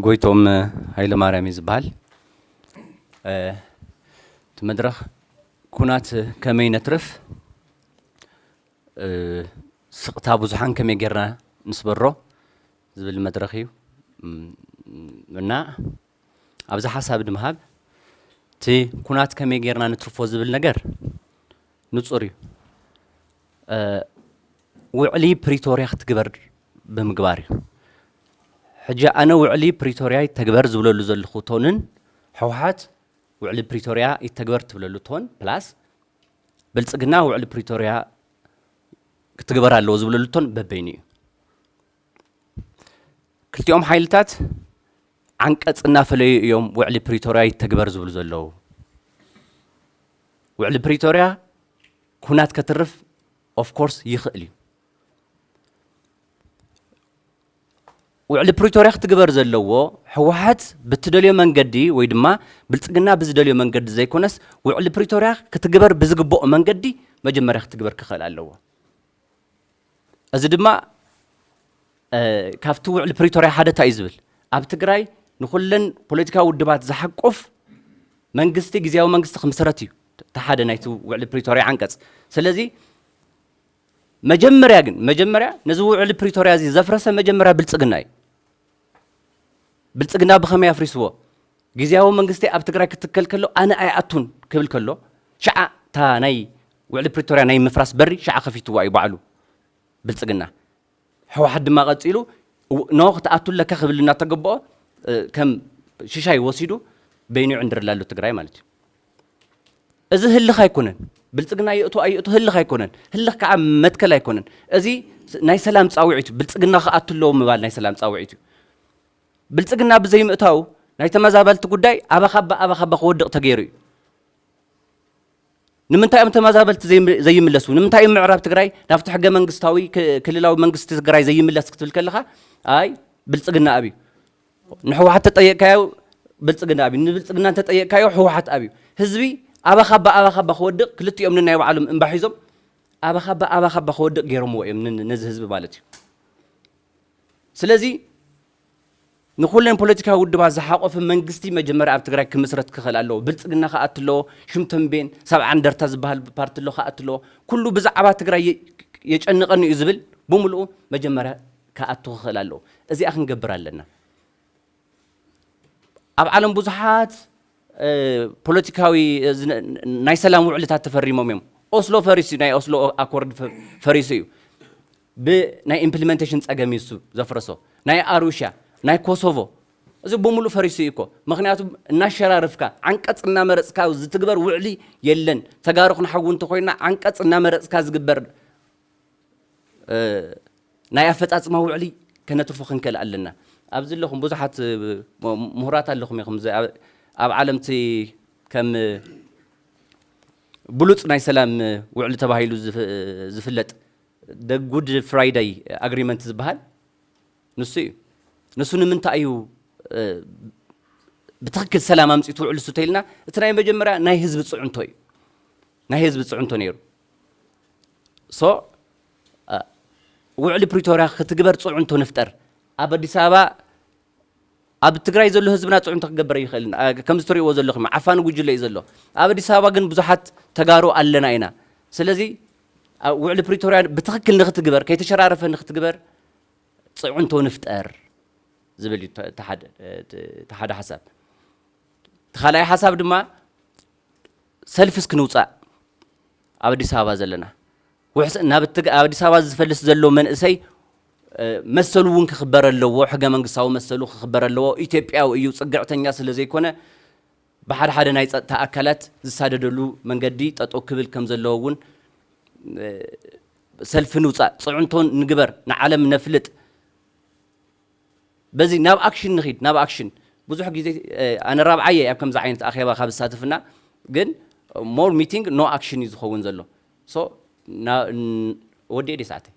ጎይቶም ሃይለ ማርያም እዩ ዝበሃል እቲ መድረኽ ኩናት ከመይ ነትርፍ ስቕታ ብዙሓን ከመይ ጌርና ንስበሮ ዝብል መድረኽ እዩ እና ኣብዚ ሓሳብ ድምሃብ እቲ ኩናት ከመይ ጌርና ንትርፎ ዝብል ነገር ንጹር እዩ ውዕሊ ፕሪቶርያ ክትግበር ብምግባር እዩ ሕጂ ኣነ ውዕሊ ፕሪቶርያ ይተግበር ዝብለሉ ዘለኹ ቶንን ሕወሓት ውዕሊ ፕሪቶርያ ይተግበር ትብለሉ ቶን ፕላስ ብልፅግና ውዕሊ ፕሪቶርያ ክትግበር ኣለዎ ዝብለሉ ቶን በበይኑ እዩ ክልቲኦም ሓይልታት ዓንቀፅ እናፈለዩ እዮም ውዕሊ ፕሪቶርያ ይተግበር ዝብሉ ዘለዉ። ውዕሊ ፕሪቶርያ ኩናት ከትርፍ ኦፍኮርስ ይኽእል እዩ። ውዕሊ ፕሪቶርያ ክትግበር ዘለዎ ህወሓት ብትደልዮ መንገዲ ወይ ድማ ብልፅግና ብዝደልዮ መንገዲ ዘይኮነስ ውዕሊ ፕሪቶርያ ክትግበር ብዝግብኦ መንገዲ መጀመርያ ክትግበር ክኽእል ኣለዎ። እዚ ድማ ካብቲ ውዕሊ ፕሪቶርያ ሓደ እንታይ እዩ ዝብል ኣብ ትግራይ ንኩለን ፖለቲካዊ ውድባት ዝሓቁፍ መንግስቲ ግዜያዊ መንግስቲ ክምስረት እዩ እቲ ሓደ ናይቲ ውዕሊ ፕሪቶርያ ዓንቀጽ ስለዚ መጀመርያ ግን መጀመርያ ነዚ ውዕሊ ፕሪቶርያ እዚ ዘፍረሰ መጀመርያ ብልፅግና እዩ ብልፅግና ብኸመይ ኣፍሪስዎ? ግዝያዊ መንግስቲ ኣብ ትግራይ ክትከል ከሎ ኣነ ኣይኣቱን ክብል ከሎ ሽዓ እታ ናይ ውዕሊ ፕሪቶርያ ናይ ምፍራስ በሪ ሽዓ ከፊትዋ እዩ ባዕሉ ብልፅግና። ሕወሓት ድማ ቀፂሉ ኖ ክትኣቱ ኣለካ ክብል እናተገበኦ ከም ሽሻይ ወሲዱ በይኑ ይዕንድረላ ኣሎ ትግራይ ማለት እዩ። እዚ ህልኽ ኣይኮነን። ብልፅግና ይእቶ ኣይእቶ ህልኽ ኣይኮነን። ህልኽ ከዓ መትከል ኣይኮነን። እዚ ናይ ሰላም ፃውዒት እዩ። ብልፅግና ክኣቱ ኣለዎ ምባል ናይ ሰላም ፃውዒት እዩ። ብልፅግና ብዘይምእታው ናይ ተመዛበልቲ ጉዳይ ኣባኻባ ኣባኻባ ክወድቕ ተገይሩ እዩ። ንምንታይ እዮም ተመዛበልቲ ዘይምለሱ ንምንታይ እዮም ምዕራብ ትግራይ ናብቲ ሕገ መንግስታዊ ክልላዊ መንግስቲ ትግራይ ዘይምለስ ክትብል ከለኻ ኣይ ብልፅግና ኣብዩ ንሕወሓት ተጠየቅካዮ ብልፅግና ኣብዩ ንብልፅግና እንተጠየቅካዮ ሕወሓት ኣብዩ ህዝቢ ኣባኻባ ኣባኻባ ክወድቕ ክልቲኦም ንናይ ባዕሎም እምባ ሒዞም ኣባኻባ ኣባኻባ ክወድቕ ገይሮምዎ እዮም ነዚ ህዝቢ ማለት እዩ ስለዚ ንኩለን ፖለቲካዊ ውድባት ዝሓቆፈ መንግስቲ መጀመርያ ኣብ ትግራይ ክምስረት ክኽእል ኣለዎ ብልፅግና ክኣት ኣለዎ ሽም ተንቤን ሰብዓ እንደርታ ዝበሃል ፓርቲ ኣሎ ክኣት ኣለዎ ኩሉ ብዛዕባ ትግራይ የጨንቐኒ እዩ ዝብል ብምልኡ መጀመርያ ክኣቱ ክኽእል ኣለዎ። እዚኣ ክንገብር ኣለና። ኣብ ዓለም ብዙሓት ፖለቲካዊ ናይ ሰላም ውዕልታት ተፈሪሞም እዮም። ኦስሎ ፈሪሱ እዩ፣ ናይ ኦስሎ ኣኮርድ ፈሪሱ እዩ። ብናይ ኢምፕሊመንቴሽን ጸገም እዩ እሱ ዘፍረሶ። ናይ ኣሩሻ፣ ናይ ኮሶቮ እዚ ብምሉእ ፈሪሱ እዩ እኮ። ምክንያቱ እናሸራርፍካ ዓንቀጽ እናመረጽካ ዝትግበር ውዕሊ የለን። ተጋሩ ክንሓዊ እንተኮይና ዓንቀጽ እናመረጽካ ዝግበር ናይ ኣፈጻጽማ ውዕሊ ከነትርፎ ክንክእል ኣለና። ኣብዚ ኣለኹም ብዙሓት ምሁራት ኣለኹም ኢኹም ኣብ ዓለም እቲ ከም ብሉጽ ናይ ሰላም ውዕሊ ተባሂሉ ዝፍለጥ ደ ጉድ ፍራይዳይ ኣግሪመንት ዝበሃል ንሱ እዩ። ንሱ ንምንታይ እዩ ብትኽክል ሰላም ኣምፂኡ ትውዕሉ ስተይልና እቲ ናይ መጀመርያ ናይ ህዝቢ ፅዕንቶ እዩ ናይ ህዝቢ ፅዕንቶ ነይሩ so ውዕሊ ፕሪቶርያ ክትግበር ፅዕንቶ ንፍጠር ኣብ ኣዲስ ኣበባ ኣብ ትግራይ ዘሎ ህዝብና ፅዕንቶ ክገበር ይኽእል ከምዚ ትሪእዎ ዘለኹም ዓፋኒ ጉጅለ እዩ ዘሎ ኣብ ኣዲስ ኣበባ ግን ብዙሓት ተጋሩ ኣለና ኢና ስለዚ ውዕሊ ፕሪቶርያ ብትኽክል ንክትግበር ከይተሸራረፈ ንክትግበር ፅዕንቶ ንፍጠር ዝብል እዩ እቲ ሓደ ሓሳብ እቲ ካልኣይ ሓሳብ ድማ ሰልፊ እስኪ ንውፃእ ኣብ ኣዲስ ኣበባ ዘለና ውሕስ ናብ እትግ ኣብ ኣዲስ ኣበባ ዝፈልስ ዘሎ መንእሰይ መሰሉ እውን ክኽበር ኣለዎ ሕገ መንግስታዊ መሰሉ ክኽበር ኣለዎ ኢትዮጵያዊ እዩ ፅግዕተኛ ስለ ዘይኮነ ብሓደ ሓደ ናይ ፀጥታ ኣካላት ዝሳደደሉ መንገዲ ጠጠው ክብል ከም ዘለዎ እውን ሰልፊ ንውፃእ ፅዕንቶን ንግበር ንዓለም ነፍልጥ በዚ ናብ ኣክሽን ንኺድ ናብ ኣክሽን ብዙሕ ግዜ ኣነ ራብዓይ እየ ኣብ ከምዚ ዓይነት ኣኼባ ካብ ዝሳተፍና ግን ሞር ሚቲንግ ኖ ኣክሽን እዩ ዝኸውን ዘሎ ሶ ወዲኤ ዲ ሰዓተይ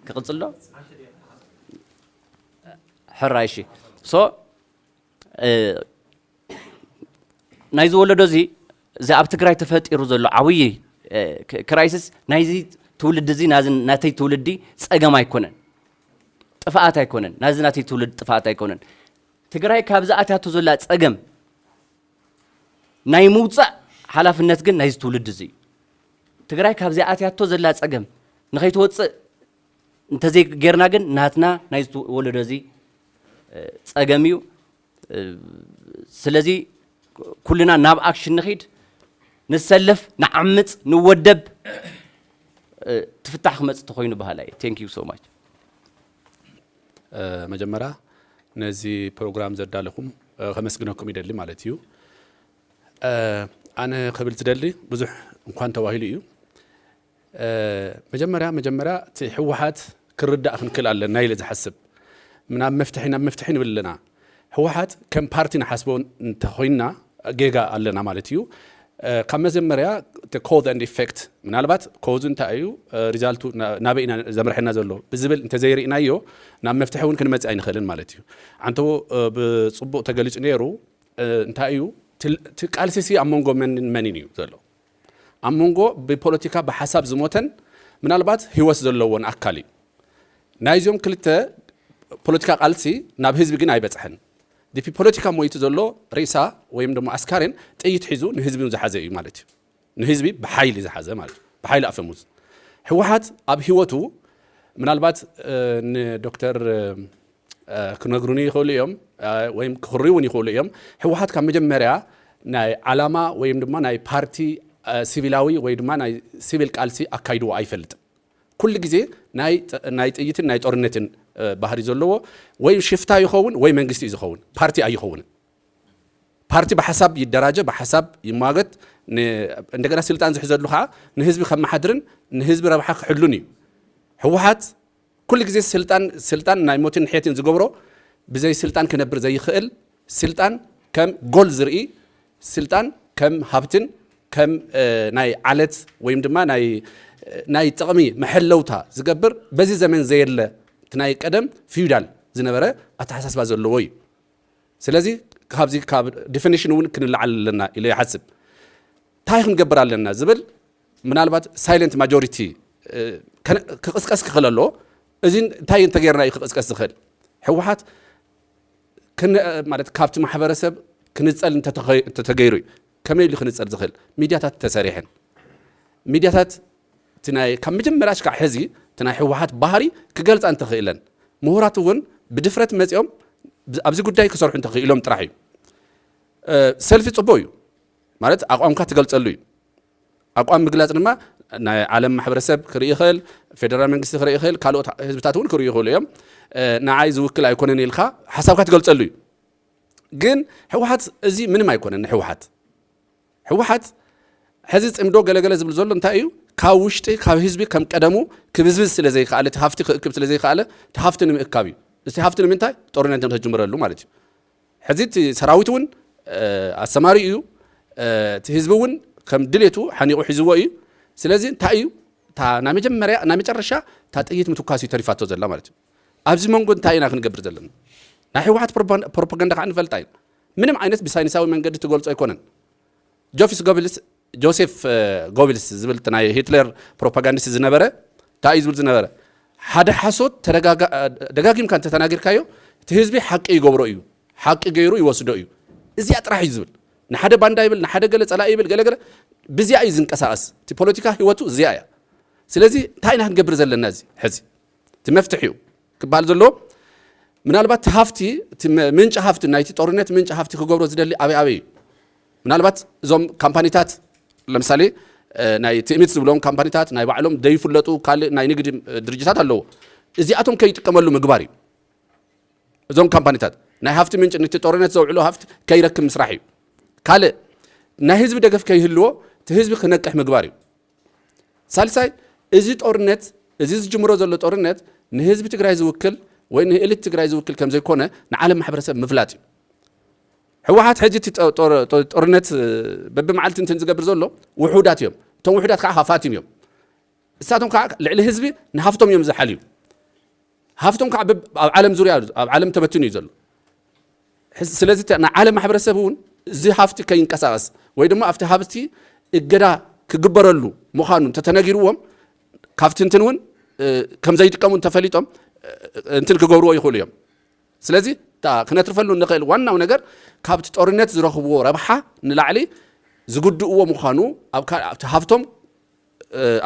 ክቕፅል ዶ ሕራይ እሺ ሶ ናይዚ ወለዶ እዚ እዚ ኣብ ትግራይ ተፈጢሩ ዘሎ ዓብዪ ክራይሲስ ናይዚ ትውልዲ እዚ ናተይ ትውልዲ ፀገም ኣይኮነን፣ ጥፍኣት ኣይኮነን፣ ናዚ ናተይ ትውልዲ ጥፍኣት ኣይኮነን። ትግራይ ካብዚ ኣትያቶ ዘላ ፀገም ናይ ምውፃእ ሓላፍነት ግን ናይዚ ትውልዲ እዚ እዩ። ትግራይ ካብዚ ኣትያቶ ዘላ ፀገም ንኸይትወፅእ እንተዘይጌርና ግን ናትና ናይ ወለዶ እዚ ጸገም እዩ ስለዚ ኩልና ናብ ኣክሽን ንኺድ ንሰለፍ ንዓምፅ ንወደብ ትፍታሕ ክመፅ ተኮይኑ በሃላይ ቴንክ ዩ ሶ ማች መጀመሪያ ነዚ ፕሮግራም ዘዳለኹም ከመስግነኩም ይደሊ ማለት እዩ ኣነ ክብል ዝደሊ ብዙሕ እንኳን ተባሂሉ እዩ መጀመርያ መጀመርያ እቲ ህወሓት ክንርዳእ ክንክእል ኣለና ኢለ ዝሓስብ ናብ መፍትሒ ናብ መፍትሒ ንብል ኣለና ህወሓት ከም ፓርቲ ንሓስቦ እንተኾይንና ጌጋ ኣለና ማለት እዩ ካብ መጀመርያ ኮዝ ኣንድ ኢፌክት ምናልባት ኮዙ እንታይ እዩ ሪዛልቱ ናበይ ኢና ዘምርሐና ዘሎ ብዝብል እንተዘይርኢናዮ ናብ መፍትሒ እውን ክንመፅእ ኣይንኽእልን ማለት እዩ ዓንተቦ ብፅቡቕ ተገሊፁ ነይሩ እንታይ እዩ እቲ ቃልሲሲ ኣብ መንጎ መንን መንን እዩ ዘሎ ኣብ መንጎ ብፖለቲካ ብሓሳብ ዝሞተን ምናልባት ህይወት ዘለዎን ኣካል እዩ። ናይዞም ክልተ ፖለቲካ ቃልሲ ናብ ህዝቢ ግን ኣይበጽሐን። ዲፒ ፖለቲካ ሞይቱ ዘሎ ሬሳ ወይም ደሞ ኣስካሬን ጥይት ሒዙ ንህዝቢ ዝሓዘ እዩ ማለት እዩ። ንህዝቢ ብሓይሊ ዝሓዘ ማለት እዩ። ብሓይሊ ኣፈሙዝ ህወሓት ኣብ ህይወቱ ምናልባት ንዶክተር ክነግሩኒ ይኽእሉ እዮም ወይም ክኽርዩ እውን ይኽእሉ እዮም ህወሓት ካብ መጀመርያ ናይ ዓላማ ወይም ድማ ናይ ፓርቲ ሲቪላዊ ወይ ድማ ናይ ሲቪል ቃልሲ ኣካይድዎ ኣይፈልጥን ኩሉ ግዜ ናይ ጥይትን ናይ ጦርነትን ባህሪ ዘለዎ ወይ ሽፍታ ይኸውን ወይ መንግስቲ እዩ ዝኸውን ፓርቲ ኣይኸውንን ፓርቲ ብሓሳብ ይደራጀ ብሓሳብ ይሟገት እንደገና ስልጣን ዝሕዘሉ ከዓ ንህዝቢ ከመሓድርን ንህዝቢ ረብሓ ክሕሉን እዩ ህወሓት ኩሉ ግዜ ስልጣን ስልጣን ናይ ሞትን ሕየትን ዝገብሮ ብዘይ ስልጣን ክነብር ዘይኽእል ስልጣን ከም ጎል ዝርኢ ስልጣን ከም ሃብትን ከም ናይ ዓለት ወይም ድማ ናይ ናይ ጥቕሚ መሐለውታ ዝገብር በዚ ዘመን ዘየለ እቲ ናይ ቀደም ፊዩዳል ዝነበረ ኣተሓሳስባ ዘለዎ እዩ ስለዚ ካብዚ ካብ ዲፊኒሽን እውን ክንለዓል ኣለና ኢለ ይሓስብ እንታይ ክንገብር ኣለና ዝብል ምናልባት ሳይለንት ማጆሪቲ ክቕስቀስ ክኽእል ኣለዎ። እዚ እንታይ እንተጌርና እዩ ክቕስቀስ ዝኽእል? ህወሓት ማለት ካብቲ ማሕበረሰብ ክንፀል እንተተገይሩ እዩ። ከመይ ኢሉ ክንፀል ዝኽእል? ሚድያታት ተሰሪሐን ሚድያታት እቲ ናይ ካብ መጀመርያ ሽካዕ ሕዚ እቲ ናይ ህወሓት ባህሪ ክገልፃ እንተኽእለን ምሁራት እውን ብድፍረት መፂኦም ኣብዚ ጉዳይ ክሰርሑ እንተኽኢሎም ጥራሕ እዩ። ሰልፊ ፅቡቅ እዩ ማለት ኣቋምካ ትገልፀሉ እዩ። ኣቋም ምግላፅ ድማ ናይ ዓለም ማሕበረሰብ ክርኢ ይኽእል፣ ፌደራል መንግስቲ ክርኢ ይኽእል፣ ካልኦት ህዝብታት እውን ክርእዩ ይኽእሉ እዮም። ንዓይ ዝውክል ኣይኮነን ኢልካ ሓሳብካ ትገልፀሉ እዩ። ግን ህወሓት እዚ ምንም ኣይኮነን ንህወሓት ህወሓት ሕዚ ፅምዶ ገለገለ ዝብል ዘሎ እንታይ እዩ ካብ ውሽጢ ካብ ህዝቢ ከም ቀደሙ ክብዝብዝ ስለ ዘይከኣለ እቲ ሃፍቲ ክእክብ ስለ ዘይከኣለ እቲ ሃፍቲ ንምእካብ እዩ እቲ ሃፍቲ ንምንታይ ጦርነት ንክጅምረሉ ማለት እዩ ሕዚ እቲ ሰራዊት እውን ኣሰማሪኡ እዩ እቲ ህዝቢ እውን ከም ድሌቱ ሓኒቑ ሒዝዎ እዩ ስለዚ እንታይ እዩ እታ ናይ መጀመርያ ናይ መጨረሻ እታ ጥይት ምትኳስ እዩ ተሪፋቶ ዘላ ማለት እዩ ኣብዚ መንጎ እንታይ ኢና ክንገብር ዘለና ናይ ህወሓት ፕሮፓጋንዳ ከዓ ንፈልጣ እዩ ምንም ዓይነት ብሳይንሳዊ መንገዲ ትገልጾ ኣይኮነን ጆፊስ ጎብልስ ጆሴፍ ጎቢልስ ዝብል እቲ ናይ ሂትሌር ፕሮፓጋንዲስት ዝነበረ ታይ እዩ ዝብል ዝነበረ ሓደ ሓሶት ደጋጊምካ እንተተናጊርካዮ እቲ ህዝቢ ሓቂ ይገብሮ እዩ ሓቂ ገይሩ ይወስዶ እዩ እዚኣ ጥራሕ እዩ ዝብል ንሓደ ባንዳ ይብል ንሓደ ገለ ፀላኢ ይብል ገለገለ ብዚኣ እዩ ዝንቀሳቀስ እቲ ፖለቲካ ህይወቱ እዚኣ እያ ስለዚ እንታይ ኢና ክንገብር ዘለና እዚ ሕዚ እቲ መፍትሒ እዩ ክበሃል ዘለዎ ምናልባት ሃፍቲ ምንጪ ሃፍቲ ናይቲ ጦርነት ምንጪ ሃፍቲ ክገብሮ ዝደሊ ኣበይ ኣበይ እዩ ምናልባት እዞም ካምፓኒታት ለምሳሌ ናይ ትእምት ዝብሎም ካምፓኒታት ናይ ባዕሎም ዘይፍለጡ ካልእ ናይ ንግዲ ድርጅታት ኣለዎ። እዚኣቶም ከይጥቀመሉ ምግባር እዩ። እዞም ካምፓኒታት ናይ ሃፍቲ ምንጭ ንቲ ጦርነት ዘውዕሎ ሃፍቲ ከይረክብ ምስራሕ እዩ። ካልእ ናይ ህዝቢ ደገፍ ከይህልዎ እቲ ህዝቢ ክነቅሕ ምግባር እዩ። ሳልሳይ እዚ ጦርነት እዚ ዝጅምሮ ዘሎ ጦርነት ንህዝቢ ትግራይ ዝውክል ወይ ንእልት ትግራይ ዝውክል ከም ዘይኮነ ንዓለም ማሕበረሰብ ምፍላጥ እዩ። ሕወሓት ሕጂ እቲ ጦርነት በብመዓልቲ እንትን ዝገብር ዘሎ ውሑዳት እዮም እቶም ውሑዳት ከዓ ሃፋትም እዮም እሳቶም ከዓ ልዕሊ ህዝቢ ንሃፍቶም እዮም ዝሓልዩ ሃፍቶም ከዓ ኣብ ዓለም ዙርያ ኣብ ዓለም ተበትኑ እዩ ዘሎ ስለዚ ናይ ዓለም ማሕበረሰብ እውን እዚ ሃፍቲ ከይንቀሳቀስ ወይ ድማ ኣብቲ ሃብቲ እገዳ ክግበረሉ ምዃኑ እንተተነጊርዎም ካብቲ እንትን እውን ከም ዘይጥቀሙ እንተፈሊጦም እንትን ክገብርዎ ይኽእሉ እዮም ስለዚ እታ ክነትርፈሉ እንኽእል ዋናው ነገር ካብቲ ጦርነት ዝረኽብዎ ረብሓ ንላዕሊ ዝጉድእዎ ምዃኑ ኣብ ካልእ ኣብቲ ሃፍቶም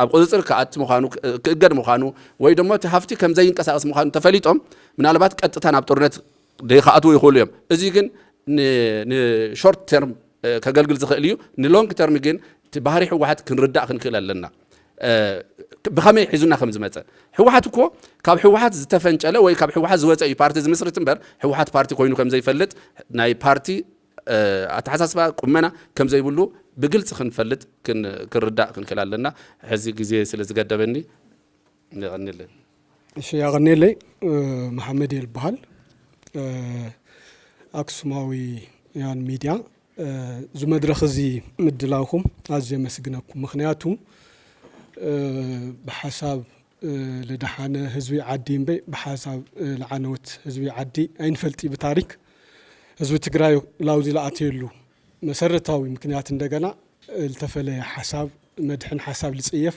ኣብ ቁፅፅር ክኣቲ ምዃኑ ክእገድ ምዃኑ ወይ ደሞ እቲ ሃፍቲ ከም ዘይንቀሳቀስ ምዃኑ ተፈሊጦም ምናልባት ቀጥታ ናብ ጦርነት ዘይክኣትዉ ይኽእሉ እዮም። እዚ ግን ንሾርት ተርም ከገልግል ዝኽእል እዩ ንሎንግ ተርም ግን እቲ ባህሪ ሕወሓት ክንርዳእ ክንክእል ኣለና ብኸመይ ሒዙና ከም ዝመፀ ሕወሓት እኮ ካብ ሕወሓት ዝተፈንጨለ ወይ ካብ ሕወሓት ዝወፀ እዩ ፓርቲ ዝምስርት እምበር ሕወሓት ፓርቲ ኮይኑ ከም ዘይፈልጥ ናይ ፓርቲ ኣተሓሳስባ ቁመና ከም ዘይብሉ ብግልፂ ክንፈልጥ ክንርዳእ ክንክእል ኣለና ሕዚ ግዜ ስለ ዝገደበኒ የቀኒለይ። እሺ ያቀኔለይ መሓመድየ ልበሃል ኣክሱማዊ ያን ሚድያ እዚ መድረኽ እዚ ምድላውኩም ኣዝየ የመስግነኩም ምኽንያቱ ብሓሳብ ልደሓነ ህዝቢ ዓዲ እምበይ ብሓሳብ ልዓነወት ህዝቢ ዓዲ ኣይንፈልጥይ ብታሪክ ህዝቢ ትግራይ ላውዚ ልኣተየሉ መሰረታዊ ምክንያት እንደገና ልተፈለየ ሓሳብ መድሕን ሓሳብ ልጽየፍ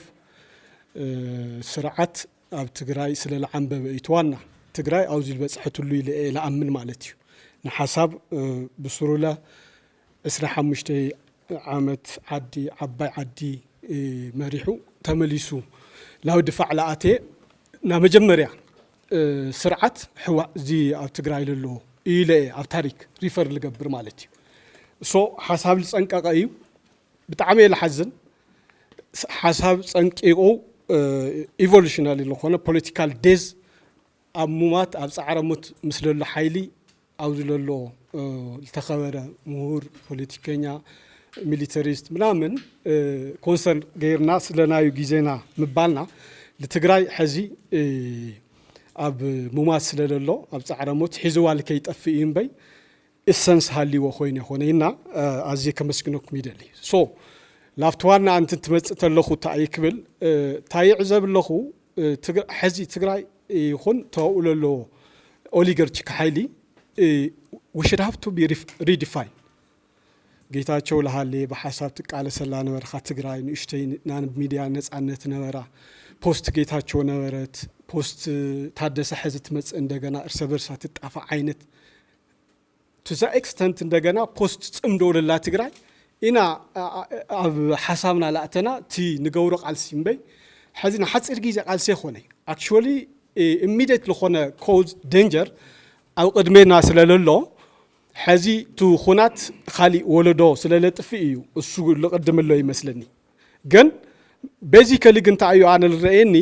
ስርዓት ኣብ ትግራይ ስለ ልዓንበበ እዩ ትዋና ትግራይ ኣውዚ ልበጽሐትሉ ኢለ እየ ልኣምን ማለት እዩ ንሓሳብ ብሱሩለ ዕስራ ሓሙሽተ ዓመት ዓዲ ዓባይ ዓዲ መሪሑ ተመሊሱ ላው ድፋዕ ልኣተየ ናመጀመርያ ስርዓት ሕዋእ እዚ ኣብ ትግራይ ለሎ ኢለ እየ ኣብ ታሪክ ሪፈር ልገብር ማለት እዩ እሶ ሓሳብ ልፀንቀቀ እዩ ብጣዕሚ እየ ልሓዝን ሓሳብ ፀንቂቁ ኢቮሉሽናሊ ልኾነ ፖለቲካል ዴዝ ኣብ ሙማት ኣብ ፃዕረ ሙት ምስ ለሎ ሓይሊ ኣብዚ ለሎ ዝተኸበረ ምሁር ፖለቲከኛ ሚሊተሪስት ምናምን ኮንሰርን ገይርና ስለናዩ ግዜና ምባልና ንትግራይ ሕዚ ኣብ ሙማት ስለለሎ ኣብ ጻዕረ ሞት ሒዝዋ ልከይጠፍእ እዩ እምበይ እሰንስ ሃልይዎ ኮይነ ኮነይና ኣዝየ ከመስግነኩም ይደሊ ሶ ናብቲ ዋና ኣንቲ ትመጽእ ተለኹ እታይ ክብል እታይ ይዕዘብ ኣለኹ ሐዚ ትግራይ ይኹን ተባብኡ ለሎ ኦሊገርቺክ ሓይሊ ዊ ሽድ ሃቭ ቱ ቢ ሪዲፋይንድ ጌታቸው ለሃሌ ብሓሳብ ትቃለሰላ ነበርካ ትግራይ ንእሽተይ ናብ ሚድያ ነፃነት ነበራ ፖስት ጌታቸው ነበረት ፖስት ታደሰ ሐዚ ትመፅእ እንደገና እርሰ በርሳ ትጣፋእ ዓይነት ቱ ዘ ኤክስተንት እንደገና ፖስት ጽምዶ ለላ ትግራይ ኢና ኣብ ሓሳብና ላእተና እቲ ንገብሮ ቃልሲ እምበይ ሐዚ ንሓፂር ግዜ ቃልሲ ኣይኮነ ኣክቹዋሊ ኢሚደት ልኾነ ኮዝ ደንጀር ኣብ ቅድሜና ስለለሎ ሐዚ ቱ ኹናት ኻሊእ ወለዶ ስለለጥፍእ እዩ እሱ ልቅድምሎ ይመስለኒ ግን ቤዚከሊ ግን እንታይ እዩ ኣነ ልረእየኒ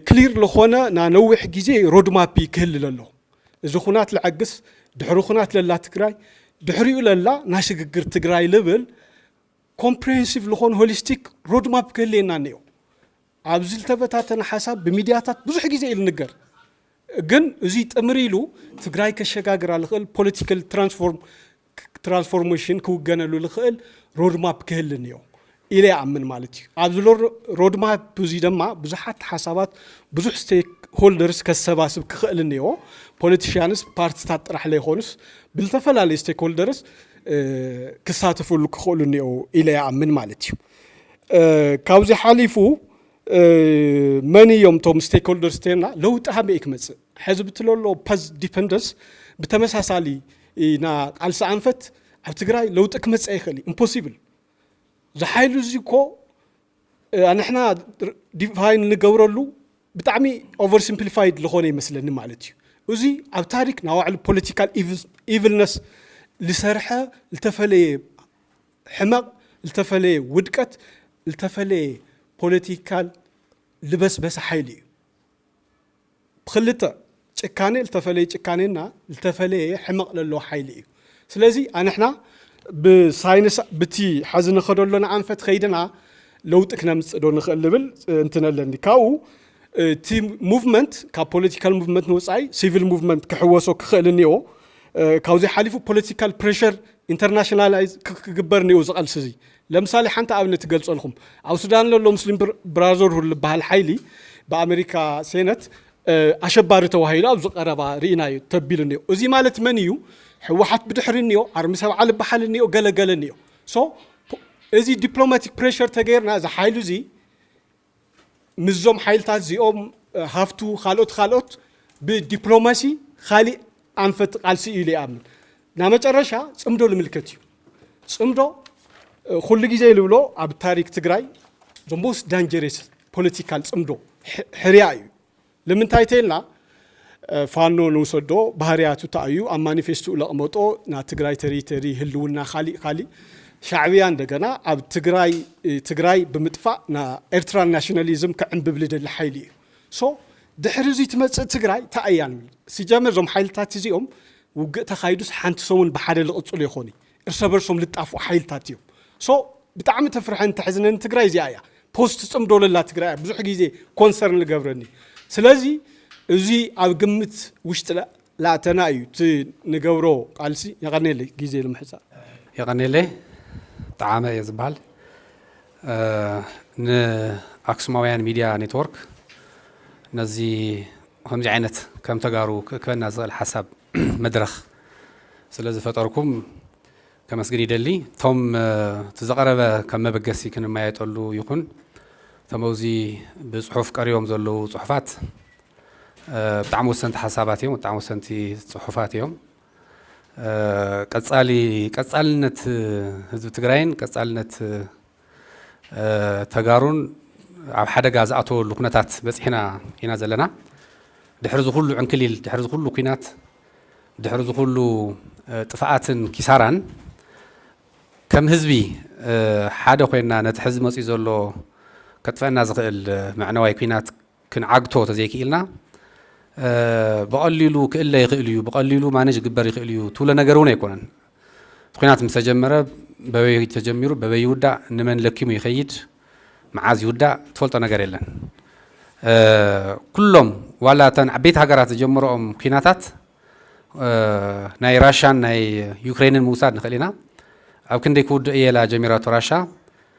ክሊር ለኾነ ና ነዊሕ ጊዜ ሮድማፒ ክህሊ ለሎ እዚ ኹናት ለዐግስ ድሕሪ ኹናት ለላ ትግራይ ድሕሪኡ ለላ ናይ ሽግግር ትግራይ ልብል ኮምፕሬሄንሲቭ ለኾነ ሆሊስቲክ ሮድማፕ ክህልየና እኒኦ ኣብዚ ዝተበታተነ ሓሳብ ብሚድያታት ብዙሕ ጊዜ እዩ ልንገር ግን እዙይ ጥምር ኢሉ ትግራይ ከሸጋግራ ልኽእል ፖለቲካል ትራንስፎርም ትራንስፎርሜሽን ክውገነሉ ዝኽእል ሮድማፕ ክህሊ እኒኦ ኢለ ይኣምን ማለት እዩ። ኣብዚ ሮድማፕ እዚ ድማ ብዙሓት ሓሳባት ብዙሕ ስቴክ ሆልደርስ ከሰባስብ ክኽእል እኒኦ። ፖለቲሽያንስ ፓርትታት ጥራሕ ለይኮኑስ ብዝተፈላለዩ ስቴክ ሆልደርስ ክሳተፍሉ ክኽእሉ እኒኦ ኢለ ይኣምን ማለት እዩ። ካብዚ ሓሊፉ መን እዮም እቶም ስቴክሆልደርስ ተና ለውጢ ሃመይ ክመፅእ ሕዚ ብትለሎ ፐዝ ዲፐንደንስ ብተመሳሳሊ ኢና ቃልሲ ኣንፈት ኣብ ትግራይ ለውጢ ክመፅእ ይኽእል እዩ ኢምፖሲብል ዝሓይሉ እዚ እኮ ንሕና ዲፋይን ንገብረሉ ብጣዕሚ ኦቨር ሲምፕሊፋይድ ዝኾነ ይመስለኒ ማለት እዩ እዚ ኣብ ታሪክ ናባዕሉ ፖለቲካል ኢቭልነስ ዝሰርሐ ዝተፈለየ ሕመቕ ልተፈለየ ውድቀት ልተፈለየ ፖለቲካል ልበስበሰ ሓይሊ እዩ። ብክልተ ጭካኔ ልተፈለየ ጭካኔና ልተፈለየ ሕመቕ ለለዎ ሓይሊ እዩ። ስለዚ ኣንሕና ብሳይንስ ብቲ ሐዚ ንኸደሎና ኣንፈት ከይድና ለውጢ ክነምፅእ ዶ ንኽእል ልብል እንትነ ኣለኒ። ካብኡ እቲ ሙቭመንት ካብ ፖለቲካል ሙቭመንት ንወፃኢ ሲቪል ሙቭመንት ክሕወሶ ክኽእል እኒኦ ካብዚ ሓሊፉ ፖለቲካል ፕሬሸር ኢንተርናሽናላይዝ ክግበር እኒኦ ዝቐልሲ እዚ ለምሳሌ ሓንቲ ኣብነት ትገልፀልኩም ኣብ ሱዳን ዘሎ ሙስሊም ብራዘርሁድ ዝበሃል ሓይሊ ብኣሜሪካ ሴነት ኣሸባሪ ተዋሂሉ ኣብዚ ቀረባ ርኢናዮ ተቢሉ እኒኦ እዚ ማለት መን እዩ ሕወሓት ብድሕሪ እኒኦ ዓርሚ ሰብዓ ዝበሃል እኒኦ ገለገለ እኒኦ ሶ እዚ ዲፕሎማቲክ ፕሬሸር ተገይርና እዚ ሓይሉ እዚ ምስዞም ሓይልታት እዚኦም ሃፍቱ ካልኦት ካልኦት ብዲፕሎማሲ ካሊእ ኣንፈት ቃልሲ እዩ ኢለ ይኣምን ናብ መጨረሻ ፅምዶ ልምልከት እዩ ፅምዶ ኩሉ ግዜ ልብሎ ኣብ ታሪክ ትግራይ ዘ ሞስት ዳንጀሬስ ፖለቲካል ፅምዶ ሕርያ እዩ ልምንታይ ተይልና ፋኖ ንውሰዶ ባህርያቱ ታይ እዩ ኣብ ማኒፌስቱኡ ለቅመጦ ና ትግራይ ተሪተሪ ህልውና ካሊእ ካሊእ ሻዕብያ እንደገና ኣብ ትግራይ ትግራይ ብምጥፋእ ን ኤርትራን ናሽናሊዝም ክዕንብብ ልደሊ ሓይሊ እዩ so ድሕሪ እዙይ ትመፅእ ትግራይ ታይ እያ ንብል ሲጀመር እዞም ሓይልታት እዚኦም ውግእ ተካይዱስ ሓንቲ ሰሙን ብሓደ ልቅፅሉ የኮኑይ እርሰበርሶም ልጣፍኡ ሓይልታት እዮም so ብጣዕሚ ተፍርሐን ተሕዝነን ትግራይ እዚኣ እያ post ትፅምዶ ለላ ትግራይ እያ ብዙሕ ግዜ concern ልገብረኒ ስለዚ እዚ ኣብ ግምት ውሽጢ ለኣተና እዩ እቲ ንገብሮ ቃልሲ የቀኔለይ ግዜ ልምሕፃር የቀኔለይ ጠዓመ እየ ዝበሃል ን ኣክሱማውያን ሚድያ ኔትወርክ ነዚ ከምዚ ዓይነት ከም ተጋሩ ክእክበና ዝኽእል ሓሳብ መድረኽ ስለ ዝፈጠርኩም ከመስግን ይደሊ ቶም እቲ ዝቐረበ ከም መበገሲ ክንመያየጠሉ ይኹን እቶም ኣብዚ ብፅሑፍ ቀሪቦም ዘለዉ ፅሑፋት ብጣዕሚ ወሰንቲ ሓሳባት እዮም ብጣዕሚ ወሰንቲ ፅሑፋት እዮም ቀፃሊ ቀፃልነት ህዝቢ ትግራይን ቀፃልነት ተጋሩን ኣብ ሓደጋ ዝኣተወሉ ኩነታት በፂሕና ኢና ዘለና። ድሕሪ እዚ ኩሉ ዕንክሊል፣ ድሕሪ እዚ ኩሉ ኩናት፣ ድሕሪ እዚ ኩሉ ጥፍኣትን ኪሳራን ከም ህዝቢ ሓደ ኮይና ነቲ ሕዚ መፂኡ ዘሎ ከጥፈእና ዝኽእል መዕነዋይ ኩናት ክንዓግቶ ተዘይክኢልና ብቐሊሉ ክእለ ይኽእል እዩ፣ ብቐሊሉ ማነጅ ክግበር ይኽእል እዩ ትብሎ ነገር እውን ኣይኮነን። እቲ ኲናት ምስ ተጀመረ በበይ ተጀሚሩ በበይ ይውዳእ፣ ንመን ለኪሙ ይኸይድ፣ መዓዝ ይውዳእ ትፈልጦ ነገር የለን። ኩሎም ዋላ እተን ዓበይቲ ሃገራት ዝጀመረኦም ኲናታት ናይ ራሻን ናይ ዩክሬንን ምውሳድ ንኽእል ኢና። ኣብ ክንደይ ክውድእ እየላ ጀሚራቶ ራሻ፣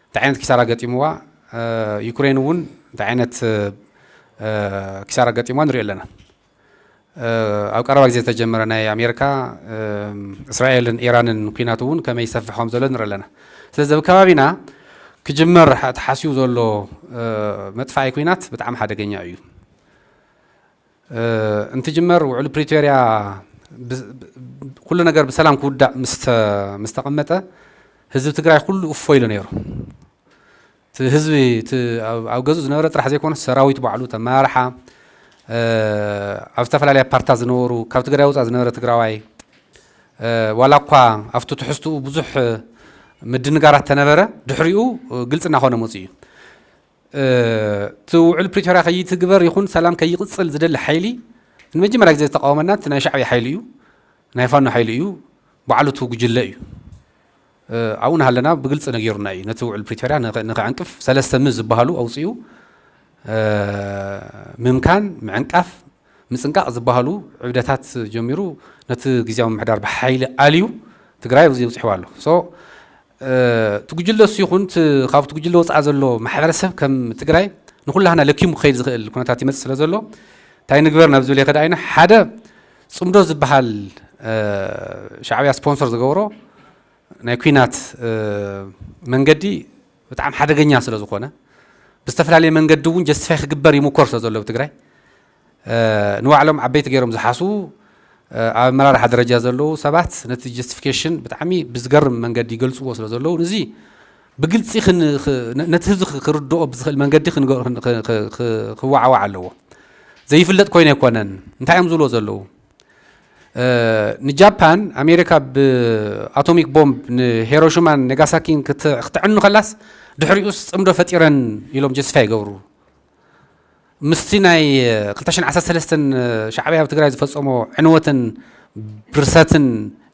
እንታይ ዓይነት ኪሳራ ገጢምዋ፣ ዩክሬን እውን እንታይ ዓይነት ኪሳራ ገጢምዋ ንሪኦ ኣለና። ኣብ ቀረባ ግዜ ዝተጀመረ ናይ ኣሜሪካ፣ እስራኤልን ኢራንን ኲናት እውን ከመይ ይሰፍሕ ከም ዘሎ ንርኢ ኣለና። ስለዚ ኣብ ከባቢና ክጅመር ተሓስዩ ዘሎ መጥፋኢ ኲናት ብጣዕሚ ሓደገኛ እዩ። እንትጅመር ውዕል ፕሪቶርያ ኩሉ ነገር ብሰላም ክውዳእ ምስ ተቐመጠ ህዝቢ ትግራይ ኩሉ እፎ ኢሉ ነይሩ። እቲ ህዝቢ ኣብ ገዝኡ ዝነበረ ጥራሕ ዘይኮነስ ሰራዊት ባዕሉ ተመራርሓ ኣብ ዝተፈላለያ ፓርትታት ዝነበሩ ካብ ትግራይ ወፃእ ዝነበረ ትግራዋይ ዋላ እኳ ኣብቲ ትሕዝትኡ ብዙሕ ምድንጋራት ተነበረ ድሕሪኡ ግልፂ እናኾነ መፅኡ እዩ። እቲ ውዕል ፕሪቶርያ ከይትግበር ይኹን ሰላም ከይቕፅል ዝደሊ ሓይሊ ንመጀመርያ ግዜ ዝተቃወመና እቲ ናይ ሻዕብያ ሓይሊ እዩ፣ ናይ ፋኖ ሓይሊ እዩ፣ ባዕሉ እቲ ጉጅለ እዩ። ኣብኡ ናሃለና ብግልፂ ነጊሩና እዩ ነቲ ውዕል ፕሪቶርያ ንክዕንቅፍ ሰለስተ ም ዝበሃሉ ኣውፂኡ ምምካን፣ ምዕንቃፍ፣ ምፅንቃቕ ዝበሃሉ ዕብደታት ጀሚሩ ነቲ ግዝያዊ ምምሕዳር ብሓይሊ ኣልዩ ትግራይ ኣብዚ ኣብፂሕዋ ኣሎ። እቲ ጉጅለ እሱ ይኹን እቲ ካብቲ ጉጅለ ወፃኢ ዘሎ ማሕበረሰብ ከም ትግራይ ንኩላህና ለኪሙ ክኸይድ ዝኽእል ኩነታት ይመፅእ ስለ ዘሎ እንታይ ንግበር ናብ ዝብል የኸዳ ኢና ሓደ ፅምዶ ዝበሃል ሻዕብያ ስፖንሰር ዝገበሮ ናይ ኩናት መንገዲ ብጣዕሚ ሓደገኛ ስለ ዝኾነ ብዝተፈላለየ መንገዲ እውን ጀስቲፋይ ክግበር ይሙኮር ስለ ዘሎ ብትግራይ ንባዕሎም ዓበይቲ ገይሮም ዝሓስቡ ኣብ ኣመራርሓ ደረጃ ዘለዉ ሰባት ነቲ ጀስቲፊኬሽን ብጣዕሚ ብዝገርም መንገዲ ይገልፅዎ ስለ ዘለዉ ንዚ ብግልፂ ነቲ ህዝቢ ክርድኦ ብዝኽእል መንገዲ ክዋዓዋዕ ኣለዎ። ዘይፍለጥ ኮይነ ኣይኮነን እንታይ እዮም ዝብሎ ዘለዉ ንጃፓን ኣሜሪካ ብኣቶሚክ ቦምብ ንሄሮሽማን ነጋሳኪን ክተዕኑ ከላስ ድሕሪኡስ ፅምዶ ፈጢረን ኢሎም ጀስቲፋይ ይገብሩ ምስቲ ናይ ክልተ ሽሕን ዓሰርተ ሰለስተን ሻዕብያ ኣብ ትግራይ ዝፈጸሞ ዕንወትን ብርሰትን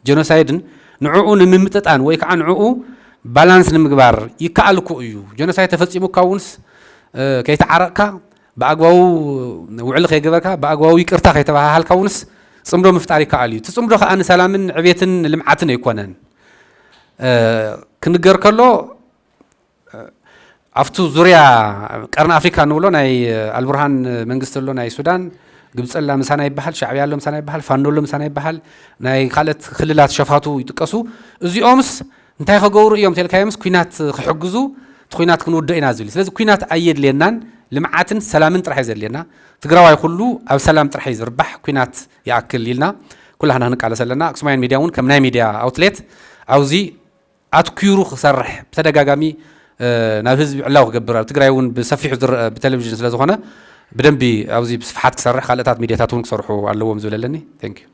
ጀኖሳይድን ንዕኡ ንምምጥጣን ወይ ከዓ ንዕኡ ባላንስ ንምግባር ይከኣል እኮ እዩ። ጀኖሳይድ ተፈጺሙካ እውንስ ከይተዓረቕካ ብኣግባቡ ውዕሊ ከይገበርካ ብኣግባቡ ይቅርታ ከይተባሃሃልካ እውንስ ፅምዶ ምፍጣር ይከኣል እዩ። እቲ ፅምዶ ከዓ ንሰላምን ዕቤትን ልምዓትን ኣይኮነን ክንገር ከሎ ኣብቱ ዙርያ ቀርኒ ኣፍሪካ እንብሎ ናይ ኣልቡርሃን መንግስቲ ኣሎ ናይ ሱዳን ግብፂ ኣላ ምሳና ይበሃል ሻዕብያ ኣሎ ምሳና ይበሃል ፋኖ ኣሎ ምሳና ይበሃል ናይ ካልኦት ክልላት ሸፋቱ ይጥቀሱ እዚኦምስ እንታይ ከገብሩ እዮም ተልካዮምስ ኩናት ክሕግዙ እቲ ኩናት ክንውድኦ ኢና ዝብል ስለዚ ኩናት ኣየድልየናን ልምዓትን ሰላምን ጥራሕ እዩ ዘድልየና ትግራዋይ ኩሉ ኣብ ሰላም ጥራሕ እዩ ዝርባሕ ኩናት ይኣክል ኢልና ኩላህና ክንቃለሰ ኣለና ኣክሱማይን ሚድያ እውን ከም ናይ ሚድያ ኣውትሌት ኣብዚ ኣትኲሩ ክሰርሕ ብተደጋጋሚ ናብ ህዝቢ ዕላዊ ክገብር ኣብ ትግራይ እውን ብሰፊሑ ዝረኣ ብተለቪዥን ስለ ዝኾነ ብደንቢ ኣብዚ ብስፍሓት ክሰርሕ ካልእታት ሚድያታት እውን ክሰርሑ ኣለዎም ዝብል ኣለኒ። Thank you።